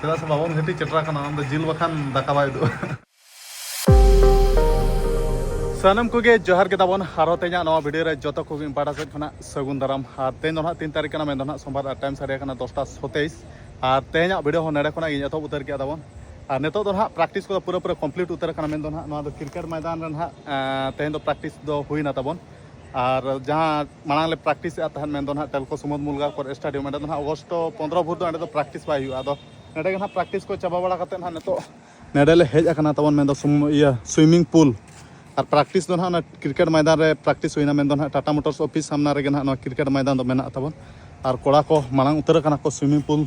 ᱪᱮᱫᱟᱜ ᱥᱮ ᱵᱟᱵᱚᱱ ᱜᱷᱟᱹᱴᱤ ᱪᱮᱴᱨᱟ ᱠᱟᱱᱟ ᱚᱱᱟ ᱫᱚ ᱡᱤᱞ ᱵᱟᱠᱷᱟᱱ ᱫᱟᱠᱟ ᱵᱟᱭ ᱩᱫᱩᱜᱼᱟ ᱥᱟᱱᱟᱢ ᱠᱚᱜᱮ ᱡᱚᱦᱟᱨ ᱜᱮ ᱛᱟᱵᱚᱱ ᱟᱨᱚ ᱛᱮᱦᱮᱧᱟᱜ ᱱᱚᱣᱟ ᱵᱷᱤᱰᱤᱭᱳ ᱨᱮ ᱡᱚᱛᱚ ᱠᱚᱜᱮ ᱤᱧ ᱯᱟᱦᱴᱟ ᱥᱮᱫ ᱠᱷᱚᱱᱟᱜ ᱥᱟᱹᱜᱩᱱ ᱫᱟᱨᱟᱢ ᱟᱨ ᱛᱮᱦᱮᱧ ᱫᱚ ᱱᱟᱦᱟᱜ ᱛᱤᱱ ᱛᱟᱹᱨᱤᱠᱷ ᱠᱟᱱᱟ ᱢᱮᱱ ᱫᱚ ᱱᱟᱦᱟᱜ ᱥᱳᱢᱵᱟᱨ ᱟᱨ ᱴᱟᱭᱤᱢ ᱥᱟᱰᱮ ᱠᱟᱱᱟ ᱫᱚᱥᱴᱟ ᱥᱚᱛᱮᱭᱤᱥ ᱟᱨ ᱛᱮᱦᱮᱧᱟᱜ ᱵᱷᱤᱰᱤᱭᱳ ᱦᱚᱸ ᱱᱚᱰᱮ ᱠᱷᱚᱱᱟᱜ ᱤᱧ ᱮᱛᱚᱦᱚᱵ ᱩᱛᱟᱹᱨ ᱠᱮᱫᱟ ᱛᱟᱵᱚᱱ ᱟᱨ ᱱᱤᱛᱚᱜ ᱫᱚ ᱱᱟᱦᱟᱜ ᱯᱨᱮᱠᱴᱤᱥ ᱠᱚᱫᱚ ᱯᱩᱨᱟᱹ ᱯᱩᱨᱟᱹ ᱠᱚᱢᱯᱞᱤᱴ ᱩᱛᱟᱹᱨ ᱠᱟᱱᱟ ᱢᱮᱱ ᱫᱚ ᱱᱟᱦᱟᱜ ᱱᱚᱣᱟ ᱫᱚ ᱠᱨᱤᱠᱮᱴ ᱢᱚᱭᱫᱟᱱ ᱨᱮ ᱱᱟᱦᱟᱜ ᱛᱮᱦᱮᱧ ᱫᱚ ᱯᱨᱮᱠᱴᱤᱥ ᱫᱚ ᱦᱩᱭᱱᱟ ᱛᱟᱵᱚᱱ ᱟᱨ ᱡᱟᱦᱟᱸ ᱢᱟᱲᱟᱝ ᱞᱮ ᱯᱨᱮᱠᱴᱤᱥ ᱮᱫ ᱛᱟᱦᱮᱸᱫ ᱢᱮᱱᱫᱚ ᱱᱟᱦᱟᱜ ᱴᱮᱞᱠᱚ ᱥᱩᱢᱩᱫ ᱢᱩᱞᱜᱟ ᱠᱚᱨ ᱥᱴᱮᱰᱤᱭᱟᱢ ᱚᱸᱰᱮ ᱫᱚ ᱱᱟᱦᱟᱜ ᱚᱜᱚᱥᱴ ᱯᱚᱱᱫᱨᱚ ᱵᱷᱳᱨ ᱫᱚ ᱚᱸᱰᱮ ᱫᱚ ᱯᱨᱮᱠᱴᱤᱥ ᱵᱟᱭ ᱦᱩᱭᱩᱜᱼᱟ ᱟᱫᱚ ᱱᱚᱰᱮ ᱜᱮ ᱱᱟᱦᱟᱜ ᱯᱨᱮᱠᱴᱤᱥ ᱠᱚ ᱪᱟᱵᱟ ᱵᱟᱲᱟ ᱠᱟᱛᱮᱫ ᱱᱟᱦᱟᱜ ᱱᱤᱛᱚᱜ ᱱᱚᱰᱮ ᱞᱮ ᱦᱮᱡ ᱟᱠᱟᱱᱟ ᱛᱟᱵᱚᱱ ᱢᱮᱱᱫᱚ ᱤᱭᱟᱹ ᱥᱩᱭᱢᱤᱝ ᱯᱩᱞ ᱟᱨ ᱯᱨᱮᱠᱴᱤᱥ ᱫᱚ ᱱᱟᱦᱟᱜ ᱚᱱᱟ ᱠᱨᱤᱠᱮᱴ ᱢᱚᱭᱫᱟᱱ ᱨᱮ ᱯᱨᱮᱠᱴᱤᱥ ᱦᱩᱭᱱᱟ ᱢᱮᱱᱫᱚ ᱱᱟᱦᱟᱜ ᱴᱟᱴᱟ ᱢᱳᱴᱚᱨᱥ ᱚᱯᱷᱤᱥ ᱥᱟᱢᱱᱟ ᱨᱮᱜᱮ ᱱᱟᱦᱟᱜ ᱱᱚᱣᱟ ᱠᱨᱤᱠᱮᱴ ᱢᱚᱭᱫᱟᱱ ᱫᱚ ᱢᱮᱱᱟᱜ ᱛᱟᱵᱚᱱ ᱟᱨ ᱠᱚᱲᱟ ᱠᱚ ᱢᱟᱲᱟᱝ ᱩᱛᱟᱹᱨ ᱟᱠᱟᱱᱟ ᱠᱚ ᱥᱩᱭᱢᱤᱝ ᱯᱩᱞ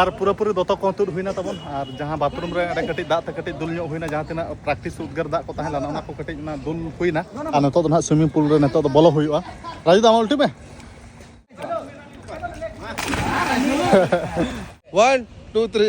ᱟᱨ ᱯᱩᱨᱟᱹ ᱯᱩᱨᱤ ᱫᱚᱛᱚ ᱠᱚ ᱛᱩᱫ ᱦᱩᱭᱱᱟ ᱛᱟᱵᱚᱱ ᱟᱨ ᱡᱟᱦᱟᱸ ᱵᱟᱛᱷᱨᱩᱢ ᱨᱮ ᱚᱸᱰᱮ ᱠᱟᱹᱴᱤᱡ ᱫᱟᱜ ᱛᱮ ᱠᱟᱹᱴᱤᱡ ᱫᱩᱞ ᱧᱚᱜ ᱦᱩᱭᱱᱟ ᱡᱟᱦᱟᱸ ᱛᱤᱱᱟᱹᱜ ᱯᱨᱮᱠᱴᱤᱥ ᱩᱫᱽᱜᱟᱹᱨ ᱫᱟᱜ ᱠᱚ ᱛᱟᱦᱮᱸ ᱞᱮᱱᱟ ᱚᱱᱟ ᱠᱚ ᱠᱟᱹᱴᱤᱡ ᱚᱱᱟ ᱫᱩᱞ ᱦᱩᱭᱱᱟ ᱟᱨ ᱱᱤᱛᱚᱜ ᱫᱚ ᱱᱟᱦᱟᱜ ᱥᱩᱭᱢᱤᱝ ᱯᱩᱞ ᱨᱮ ᱱᱤᱛᱚᱜ ᱫᱚ ᱵᱚᱞᱚ ᱦᱩᱭᱩᱜᱼᱟ ᱨᱟᱡᱩ ᱫᱟ ᱟᱢᱟᱜ ᱩᱞᱴᱤ ᱢᱮ वन टू थ्री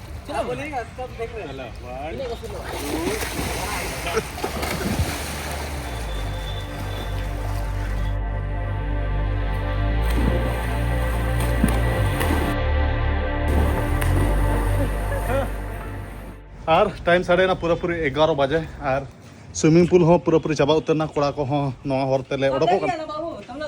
ᱟᱨ ᱴᱟᱭᱤᱢ ᱥᱟᱰᱮᱭᱮᱱᱟ ᱯᱩᱨᱟᱹᱯᱩᱨᱤ ᱮᱜᱟᱨᱚ ᱵᱟᱡᱮ ᱟᱨ ᱥᱩᱭᱢᱤᱝ ᱯᱩᱞ ᱦᱚᱸ ᱯᱩᱨᱟᱹᱯᱩᱨᱤ ᱪᱟᱵᱟ ᱩᱛᱟᱹᱨᱱᱟ ᱠᱚᱲᱟ ᱠᱚᱦᱚᱸ ᱱᱚᱣᱟ ᱦᱚᱨ ᱛᱮᱞᱮ ᱚᱰᱚᱠᱚᱜ ᱠᱟᱱᱟ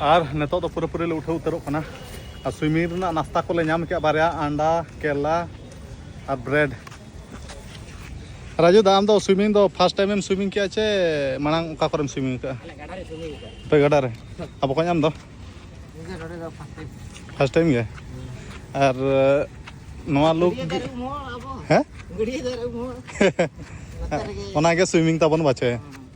ᱟᱨ ᱱᱤᱛᱚᱜ ᱫᱚ ᱯᱩᱨᱟᱹ ᱯᱩᱨᱤ ᱞᱮ ᱩᱴᱷᱟᱹᱣ ᱩᱛᱟᱹᱨᱚᱜ ᱠᱟᱱᱟ ᱟᱨ ᱥᱩᱭᱢᱤᱝ ᱨᱮᱱᱟᱜ ᱱᱟᱥᱛᱟ ᱠᱚᱞᱮ ᱧᱟᱢ ᱠᱮᱫᱼᱟ ᱵᱟᱨᱭᱟ ᱟᱱᱰᱟ ᱠᱮᱞᱟ ᱟᱨ ᱵᱨᱮᱰ ᱨᱟᱡᱩ ᱫᱟ ᱟᱢ ᱫᱚ ᱥᱩᱭᱢᱤᱝ ᱫᱚ ᱯᱷᱟᱥᱴ ᱴᱟᱭᱤᱢ ᱮᱢ ᱥᱩᱭᱢᱤᱝ ᱠᱮᱫᱼᱟ ᱪᱮ ᱢᱟᱲᱟᱝ ᱚᱠᱟ ᱠᱚᱨᱮᱢ ᱥᱩᱭᱢᱤᱝ ᱠᱟᱜᱼᱟ ᱛᱚ ᱜᱟᱰᱟ ᱨᱮ ᱟᱨ ᱵᱚᱠᱚᱧ ᱟᱢ ᱫᱚ ᱯᱷᱟᱥᱴ ᱴᱟᱭᱤᱢ ᱜᱮ ᱟᱨ ᱱᱚᱣᱟ ᱞᱩᱠ ᱦᱮᱸ ᱚᱱᱟᱜᱮ ᱥᱩᱭᱢᱤᱝ ᱛᱟᱵᱚᱱ ᱵᱟᱪᱮ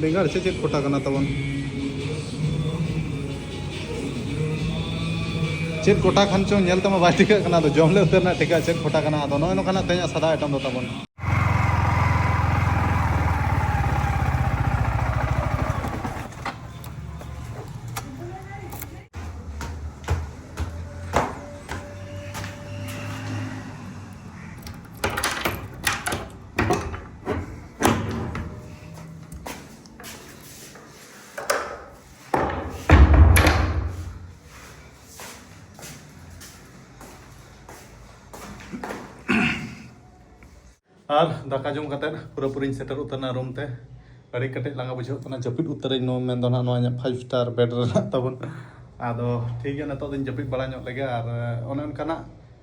ᱵᱮᱸᱜᱟᱲ ᱪᱮᱫ ᱪᱮᱫ ᱠᱚᱴᱟ ᱠᱟᱱᱟ ᱛᱟᱵᱚᱱ ᱪᱮᱫ ᱠᱚᱴᱟ ᱠᱷᱟᱱ ᱪᱚᱝ ᱧᱮᱞ ᱛᱮᱢᱟ ᱵᱟᱭ ᱴᱷᱤᱠᱟᱹᱜ ᱠᱟᱱᱟ ᱟᱫᱚ ᱡᱚᱢ ᱞᱮ ᱩᱛᱟᱹᱨ ᱨᱮᱱᱟᱜ ᱴᱷᱤᱠᱟᱹ ᱪᱮᱫ ᱠᱚᱴᱟ ᱠᱟᱱᱟ ᱟᱫᱚ ᱱᱚᱜᱼᱚᱭ ᱱᱚᱝᱠᱟᱱᱟᱜ ᱛᱮᱦᱮᱧᱟᱜ ᱥᱟᱫᱟ ᱟᱭᱴᱮᱢ ᱫᱚ ᱛᱟᱵᱚᱱ ᱟᱨ ᱫᱟᱠᱟ ᱡᱚᱢ ᱠᱟᱛᱮ ᱯᱩᱨᱟᱹ ᱯᱩᱨᱤᱧ ᱥᱮᱴᱮᱨ ᱩᱛᱟᱹᱨᱱᱟ ᱨᱩᱢ ᱛᱮ ᱟᱹᱰᱤ ᱠᱟᱹᱴᱤᱡ ᱞᱟᱸᱜᱟ ᱵᱩᱡᱷᱟᱹᱜ ᱠᱟᱱᱟ ᱡᱟᱹᱯᱤᱫ ᱩᱛᱟᱹᱨᱟᱹᱧ ᱱᱚᱣᱟ ᱢᱮᱱ ᱫᱚ ᱱᱚᱣᱟ ᱤᱧᱟᱹᱜ ᱯᱷᱟᱭᱤᱵᱷ ᱥᱴᱟᱨ ᱵᱮᱰ ᱨᱮᱱᱟᱜ ᱛᱟᱵᱚᱱ ᱟᱫᱚ ᱴᱷᱤᱠ ᱜᱮᱭᱟ ᱱᱤᱛᱚᱜ ᱫᱚᱧ ᱡᱟᱹᱯᱤᱫ ᱵᱟᱲᱟ ᱧᱚᱜ ᱞᱮᱜᱮ ᱟᱨ ᱚᱱᱮ ᱚᱱᱠᱟᱱᱟᱜ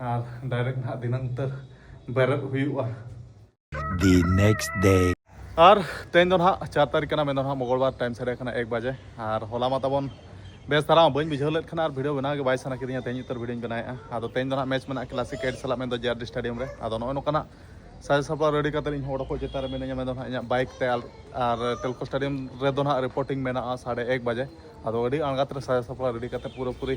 ᱟᱨ ᱰᱟᱭᱨᱮᱠᱴ ᱱᱟᱦᱟᱜ ᱫᱤᱱᱟᱹᱢ ᱩᱛᱟᱹᱨ ᱵᱮᱨᱮᱫ ᱦᱩᱭᱩᱜᱼᱟ The next day ᱟᱨ ᱛᱮᱦᱮᱧ ᱫᱚ ᱱᱟᱦᱟᱜ ᱪᱟᱨ ᱛᱟᱹᱨᱤᱠᱷ ᱠᱟᱱᱟ ᱢᱮᱱ ᱫᱚ ᱱᱟᱦᱟᱜ ᱢᱚᱝᱜᱚᱞᱵᱟᱨ ᱴᱟᱭᱤᱢ ᱥᱟᱰᱮ ᱠᱟᱱᱟ ᱮᱠ ᱵᱟᱡᱮ ᱟᱨ ᱦᱚᱞᱟ ᱢᱟ ᱛᱟᱵᱚᱱ ᱵᱮᱥ ᱫᱷᱟᱨᱟ ᱵᱟᱹᱧ ᱵᱩᱡᱷᱟᱹᱣ ᱞᱮᱫ ᱠᱷᱟᱱ ᱟᱨ ᱵᱷᱤᱰᱤᱭᱳ ᱵᱮᱱᱟᱣ ᱜᱮ ᱵᱟᱭ ᱥᱟᱱᱟ ᱠᱤᱫᱤᱧᱟ ᱛᱮᱦᱮᱧ ᱩᱛᱟᱹᱨ ᱵᱷᱤᱰᱤᱭᱳᱧ ᱵᱮᱱᱟᱣᱮᱫᱼᱟ ᱟᱫᱚ ᱛᱮᱦᱮᱧ ᱫᱚ ᱱᱟᱦᱟᱜ ᱢᱮᱪ ᱢᱮᱱᱟᱜᱼᱟ ᱠᱞᱟᱥᱤᱠ ᱮᱰ ᱥᱟᱞᱟᱜ ᱢᱮᱱ ᱫᱚ ᱡᱮ ᱟᱨ ᱰᱤ ᱥᱴᱮᱰᱤᱭᱟᱢ ᱨᱮ ᱟᱫᱚ ᱱᱚᱜᱼᱚᱭ ᱱᱚᱝᱠᱟᱱᱟᱜ ᱥᱟᱡᱟᱣ ᱥᱟᱯᱲᱟᱣ ᱨᱮᱰᱤ ᱠᱟᱛᱮ ᱤᱧ ᱦᱚᱲ ᱠᱚ ᱪᱮᱛᱟᱱ ᱨᱮ ᱢᱤᱱᱟᱹᱧᱟ ᱢᱮᱱ ᱫᱚ ᱱᱟᱦᱟᱜ ᱤᱧᱟᱹᱜ ᱵᱟᱭᱤᱠ ᱛᱮ ᱟᱨ ᱴᱮᱞᱠᱚ ᱥᱴᱮᱰᱤᱭᱟᱢ ᱨᱮᱫᱚ ᱱᱟᱦᱟᱜ ᱨᱤᱯᱳᱨᱴᱤᱝ ᱢᱮᱱᱟᱜᱼᱟ ᱥᱟᱰᱮ ᱮᱠ ᱵᱟᱡᱮ ᱟᱫᱚ ᱟᱹᱰᱤ ᱟᱬᱜᱟᱛ ᱨᱮ ᱥᱟᱡᱟᱣ ᱥᱟᱯᱲᱟᱣ ᱨᱮᱰᱤ ᱠᱟᱛᱮ ᱯᱩᱨᱟᱹᱯᱩᱨᱤ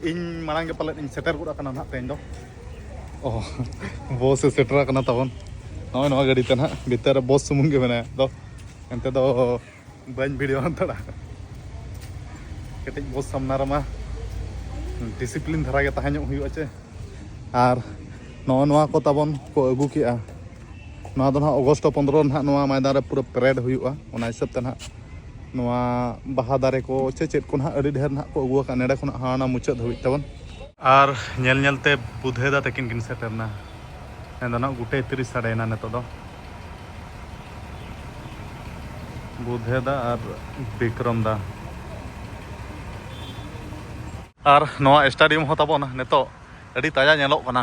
ᱤᱧ ᱢᱟᱲᱟᱝ ᱜᱮ ᱯᱟᱞᱮᱫ ᱤᱧ ᱥᱮᱴᱮᱨ ᱜᱚᱫ ᱟᱠᱟᱱᱟ ᱱᱟᱦᱟᱜ ᱛᱮᱦᱮᱧ ᱫᱚ ᱚ ᱵᱚᱥ ᱮ ᱥᱮᱴᱮᱨ ᱟᱠᱟᱱᱟ ᱛᱟᱵᱚᱱ ᱱᱚᱜᱼᱚᱭ ᱱᱚᱣᱟ ᱜᱟᱹᱰᱤ ᱛᱮ ᱱᱟᱦᱟᱜ ᱵᱷᱤᱛᱟᱹᱨ ᱨᱮ ᱵᱚᱥ ᱥᱩᱢᱩᱝ ᱜᱮ ᱢᱮᱱᱟᱭᱟ ᱟᱫᱚ ᱮᱱᱛᱮ ᱫᱚ ᱵᱟᱹᱧ ᱵᱷᱤᱰᱤᱭᱳ ᱦᱟᱛᱟᱲᱟ ᱠᱟᱹᱴᱤᱡ ᱵᱚᱥ ᱥᱟᱢᱱᱟ ᱨᱮᱢᱟ ᱰᱤᱥᱤᱯᱞᱤᱱ ᱫᱷᱟᱨᱟ ᱜᱮ ᱛᱟᱦᱮᱸ ᱧᱚᱜ ᱦᱩᱭᱩᱜᱼᱟ ᱪᱮ ᱟᱨ ᱱᱚᱜᱼᱚ ᱱᱚᱣᱟ ᱠᱚ ᱛᱟᱵᱚᱱ ᱠᱚ ᱟᱹᱜᱩ ᱠᱮᱜᱼᱟ ᱱᱚᱣᱟ ᱫᱚ ᱱᱟᱦᱟᱜ ᱚᱜᱚᱥᱴ ᱯᱚᱱᱫᱨᱚ ᱱᱟᱦᱟᱜ ᱱᱚᱣᱟ ᱢᱚᱭᱫᱟᱱ ᱨᱮ ᱯᱩᱨᱟᱹ ᱯᱮᱨᱮᱰ ᱦᱩᱭᱩᱜᱼᱟ ᱚᱱᱟ ᱦᱤᱥᱟᱹᱵ ᱛᱮ ᱱᱟᱦᱟᱜ ᱱᱚᱣᱟ ᱵᱟᱦᱟ ᱫᱟᱨᱮ ᱠᱚ ᱪᱮ ᱪᱮᱫ ᱠᱚ ᱱᱟᱦᱟᱜ ᱟᱹᱰᱤ ᱰᱷᱮᱨ ᱱᱟᱦᱟᱜ ᱠᱚ ᱟᱹᱜᱩ ᱟᱠᱟᱫ ᱱᱮᱰᱮ ᱠᱷᱚᱱᱟᱜ ᱦᱟᱱᱟ ᱢᱩᱪᱟᱹᱫ ᱫᱷᱟᱹᱵᱤᱡ ᱛᱟᱵᱚᱱ ᱟᱨ ᱧᱮᱞ ᱧᱮᱞᱛᱮ ᱵᱩᱫᱷᱟᱹᱭ ᱫᱟ ᱛᱟᱹᱠᱤᱱ ᱠᱤᱱ ᱥᱮᱴᱮᱨᱱᱟ ᱢᱮᱱᱫᱚ ᱱᱟᱦᱟᱜ ᱜᱩᱴᱮ ᱛᱤᱨᱤᱥ ᱥᱟᱰᱮᱭᱮᱱᱟ ᱱᱤᱛᱚᱜ ᱫᱚ ᱵᱩᱫᱷᱟᱹᱭ ᱫᱟ ᱟᱨ ᱵᱤᱠᱨᱚᱢ ᱫᱟ ᱟᱨ ᱱᱚᱣᱟ ᱥᱴᱟᱰᱤᱭᱟᱢ ᱦᱚᱸ ᱛᱟᱵᱚᱱ ᱱᱤᱛᱚᱜ ᱟᱹᱰᱤ ᱛᱟᱡᱟ ᱧᱮᱞᱚᱜ ᱠᱟᱱᱟ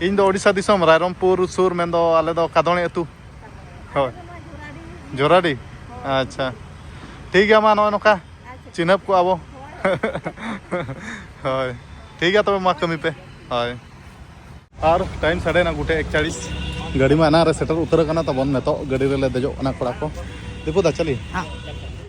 ᱤᱧ ᱫᱚ ᱳᱰᱤᱥᱟ ᱫᱤᱥᱚᱢ ᱨᱟᱭᱨᱚᱢᱯᱩᱨ ᱥᱩᱨ ᱢᱮᱱᱫᱚ ᱟᱞᱮ ᱫᱚ ᱠᱟᱫᱚᱬᱮ ᱟᱹᱛᱩ ᱦᱳᱭ ᱡᱚᱨᱟᱰᱤ ᱟᱪᱪᱷᱟ ᱴᱷᱤᱠ ᱜᱮᱭᱟ ᱢᱟ ᱱᱚᱜᱼᱚᱭ ᱱᱚᱝᱠᱟ ᱪᱤᱱᱦᱟᱹᱯ ᱠᱚ ᱟᱵᱚ ᱦᱳᱭ ᱴᱷᱤᱠ ᱜᱮᱭᱟ ᱛᱚᱵᱮ ᱢᱟ ᱠᱟᱹᱢᱤ ᱯᱮ ᱦᱳᱭ ᱟᱨ ᱴᱟᱭᱤᱢ ᱥᱟᱰᱮ ᱱᱟ ᱜᱩᱴᱮ ᱮᱠᱪᱟᱲᱤᱥ ᱜᱟᱹᱰᱤ ᱢᱟ ᱮᱱᱟᱝ ᱨᱮ ᱥᱮᱴᱮᱨ ᱩᱛᱟᱹᱨ ᱟᱠᱟᱱᱟ ᱛᱟᱵᱚᱱ ᱱᱤᱛᱚᱜ ᱜᱟᱹᱰᱤ ᱨᱮᱞᱮ ᱫᱮᱡᱚᱜ ᱠᱟᱱᱟ ᱠᱚᱲᱟ ᱠᱚ ᱫᱤᱯᱩ ᱫᱟ ᱪᱟᱞᱤ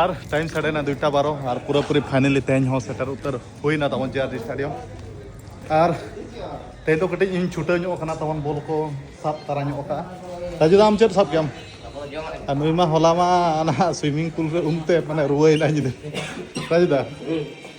ᱟᱨ ᱴᱟᱭᱤᱢ ᱥᱟᱰᱮᱱᱟ ᱫᱩᱭᱴᱟ ᱵᱟᱨᱚ ᱟᱨ ᱯᱩᱨᱟᱹ ᱯᱩᱨᱤ ᱯᱷᱟᱭᱱᱮᱞᱤ ᱛᱮᱦᱮᱧ ᱦᱚᱸ ᱥᱮᱴᱮᱨ ᱩᱛᱟᱹᱨ ᱦᱩᱭᱱᱟ ᱛᱟᱵᱚᱱ ᱡᱮ ᱟᱨ ᱰᱤ ᱥᱴᱟᱰᱤᱭᱟᱢ ᱟᱨ ᱛᱮᱦᱮᱧ ᱫᱚ ᱠᱟᱹᱴᱤᱡ ᱤᱧ ᱪᱷᱩᱴᱟᱹᱣ ᱧᱚᱜ ᱠᱟᱱᱟ ᱛᱟᱵᱚᱱ ᱵᱚᱞ ᱠᱚ ᱥᱟᱵ ᱛᱟᱨᱟ ᱧᱚᱜ ᱠᱟᱜᱼᱟ ᱨᱟᱡᱩ ᱟᱢ ᱪᱮᱫ ᱥᱟᱵ ᱠᱮᱜᱼᱟᱢ ᱟᱨ ᱱᱩᱭ ᱢᱟ ᱦᱚᱞᱟ ᱢᱟ ᱚᱱᱟ ᱥᱩᱭᱢᱤᱝ ᱯᱩᱞ ᱨᱮ ᱩᱢᱛᱮ ᱢᱟᱱᱮ ᱨᱩᱣᱟᱹᱭᱮᱱᱟ ᱧᱤᱫᱟᱹ ᱨᱟᱡᱩ ᱫᱟ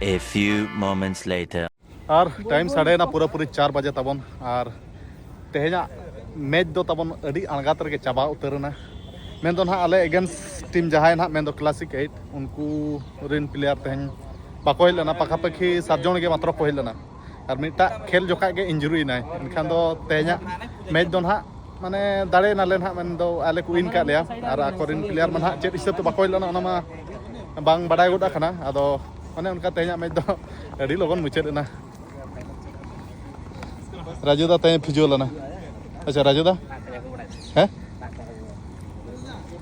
A few moments later. ᱟᱨ ᱴᱟᱭᱤᱢ ᱥᱟᱰᱮᱭᱮᱱᱟ ᱯᱩᱨᱟᱹ ᱯᱩᱨᱤ ᱪᱟᱨ ᱵᱟᱡᱮ ᱛᱟᱵᱚᱱ ᱟᱨ ᱛᱮᱦᱮᱧᱟᱜ ᱢᱮᱪ ᱫᱚ ᱛᱟᱵᱚᱱ ᱟᱹᱰᱤ ᱟᱬᱜᱟᱛ ᱨᱮᱜᱮ ᱪᱟᱵᱟ ᱩᱛᱟᱹᱨᱮᱱᱟ ᱢᱮᱱ ᱫᱚ ᱱᱟᱦᱟᱜ ᱟᱞᱮ ᱮᱜᱮᱱᱥᱴ ᱴᱤᱢ ᱡᱟᱦᱟᱸᱭ ᱱᱟᱦᱟᱜ ᱢᱮᱱ ᱫᱚ ᱠᱞᱟᱥᱤᱠ ᱮᱭᱤᱴ ᱩᱱᱠᱩ ᱨᱮᱱ ᱯᱞᱮᱭᱟᱨ ᱛᱮᱦᱮᱧ ᱵᱟᱠᱚ ᱦᱮᱡ ᱞᱮᱱᱟ ᱯᱟᱠᱷᱟᱯᱟᱠᱷᱤ ᱥᱟᱛ ᱡᱚᱱ ᱜᱮ ᱢᱟᱛᱨᱚ ᱠᱚ ᱦᱮᱡ ᱞᱮᱱᱟ ᱟᱨ ᱢᱤᱫᱴᱟᱜ ᱠᱷᱮᱞ ᱡᱚᱠᱷᱟᱡ ᱜᱮ ᱤᱱᱡᱩᱨᱤ ᱮᱱᱟᱭ ᱮᱱᱠᱷᱟᱱ ᱫᱚ ᱛᱮᱦᱮᱧᱟᱜ ᱢᱮᱪ ᱫᱚ ᱱᱟᱦᱟᱜ ᱢᱟᱱᱮ ᱫᱟᱲᱮ ᱱᱟᱞᱮ ᱱᱟᱦᱟᱜ ᱢᱮᱱ ᱫᱚ ᱟᱞᱮ ᱠᱚ ᱩᱭᱤᱱ ᱠᱟᱜ ᱞᱮᱭᱟ ᱟᱨ ᱟᱠᱚᱨᱮᱱ ᱯᱞᱮᱭᱟᱨ ᱢᱟ ᱱᱟᱦᱟᱜ ᱪᱮᱫ ᱦᱤᱥᱟᱹᱵ ᱛᱮ ᱵᱟᱠᱚ ᱦᱮᱡ ᱞᱮᱱᱟ ᱚᱱᱟ ᱢᱟ ᱵᱟᱝ ᱵᱟᱰᱟᱭ ᱜᱚᱫ ᱟᱠᱟᱱᱟ ᱟᱫᱚ ᱚᱱᱮ ᱚᱱᱠᱟ ᱛᱮᱦᱮᱧᱟᱜ ᱢᱮᱪ ᱫᱚ ᱟᱹᱰᱤ ᱞᱚᱜᱚᱱ ᱢᱩᱪᱟᱹᱫ ᱮᱱᱟ ᱨᱟᱡᱩ ᱫᱟ ᱛᱮᱦᱮᱧ ᱯᱷᱤᱡᱩᱣ ᱞᱮᱱᱟ ᱟᱪᱪᱷᱟ ᱨᱟᱡᱩ ᱫᱟ ᱦᱮᱸ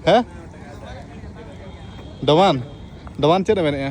ᱦᱮᱸ ᱰᱚᱢᱟᱱ ᱰᱚᱢᱟᱱ ᱪᱮᱫ ᱮ ᱢᱮᱱᱮᱜᱼᱟ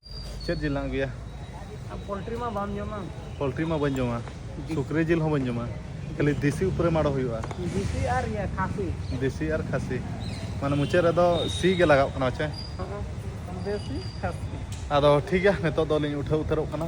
ᱪᱮᱫ ᱡᱤᱞ ᱞᱟᱝ ᱟᱹᱜᱩᱭᱟ ᱯᱳᱞᱴᱨᱤ ᱢᱟ ᱵᱟᱢ ᱡᱚᱢᱟ ᱯᱳᱞᱴᱨᱤ ᱢᱟ ᱵᱟᱹᱧ ᱡᱚᱢᱟ ᱥᱩᱠᱨᱤ ᱡᱤᱞ ᱦᱚᱸ ᱵᱟᱹᱧ ᱡᱚᱢᱟ ᱠᱷᱟᱹᱞᱤ ᱫᱮᱥᱤ ᱩᱯᱚᱨᱮ ᱢᱟᱲᱚ ᱦᱩᱭᱩᱜᱼᱟ ᱫᱮᱥᱤ ᱟᱨ ᱤᱭᱟᱹ ᱠᱷᱟᱥᱤ ᱫᱮᱥᱤ ᱟᱨ ᱠᱷᱟᱥᱤ ᱢᱟᱱᱮ ᱢᱩᱪᱟᱹᱫ ᱨᱮᱫᱚ ᱥᱤ ᱜᱮ ᱞᱟᱜᱟᱣ ᱠᱟᱱᱟ ᱪᱮ ᱫᱮᱥᱤ ᱠᱷᱟᱥᱤ ᱟᱫᱚ ᱴᱷᱤᱠ ᱜᱮᱭᱟ ᱱᱤᱛᱚᱜ ᱫᱚ ᱞᱤᱧ ᱩᱴᱷᱟᱹᱣ ᱩᱛᱟᱹᱨᱚᱜ ᱠᱟᱱᱟ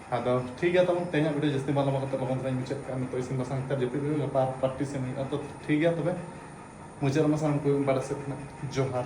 ᱟᱫᱚ ᱴᱷᱤᱠ ᱜᱮᱭᱟ ᱛᱟᱵᱚᱱ ᱛᱮᱦᱮᱧᱟᱜ ᱵᱷᱤᱰᱤᱭᱳ ᱡᱟᱹᱥᱛᱤ ᱵᱟᱝ ᱞᱚᱢᱵᱟ ᱠᱟᱛᱮ ᱞᱚᱜᱚᱱ ᱫᱷᱟᱨᱟᱧ ᱢᱩᱪᱟᱹᱫ ᱠᱟᱜᱼᱟ ᱱᱤᱛᱚᱜ ᱤᱥᱤᱱ ᱵᱟᱥᱟᱝ ᱠᱟᱛᱮ ᱡᱟᱹᱯᱤᱫ ᱦᱩᱭᱩᱜᱼᱟ ᱜᱟᱯᱟ ᱯᱨᱮᱠᱴᱤᱥ ᱮᱢ ᱦᱩᱭᱩᱜᱼᱟ ᱛᱚ ᱴᱷᱤᱠ ᱜᱮᱭᱟ ᱛᱚᱵᱮ ᱢᱩᱪᱟᱹᱫ ᱨᱮᱢᱟ ᱥᱟᱱᱟᱢ ᱠᱚ ᱵᱟᱰᱟᱭ ᱥᱮᱫ ᱠᱷᱚᱱᱟᱜ ᱡᱚᱦᱟᱨ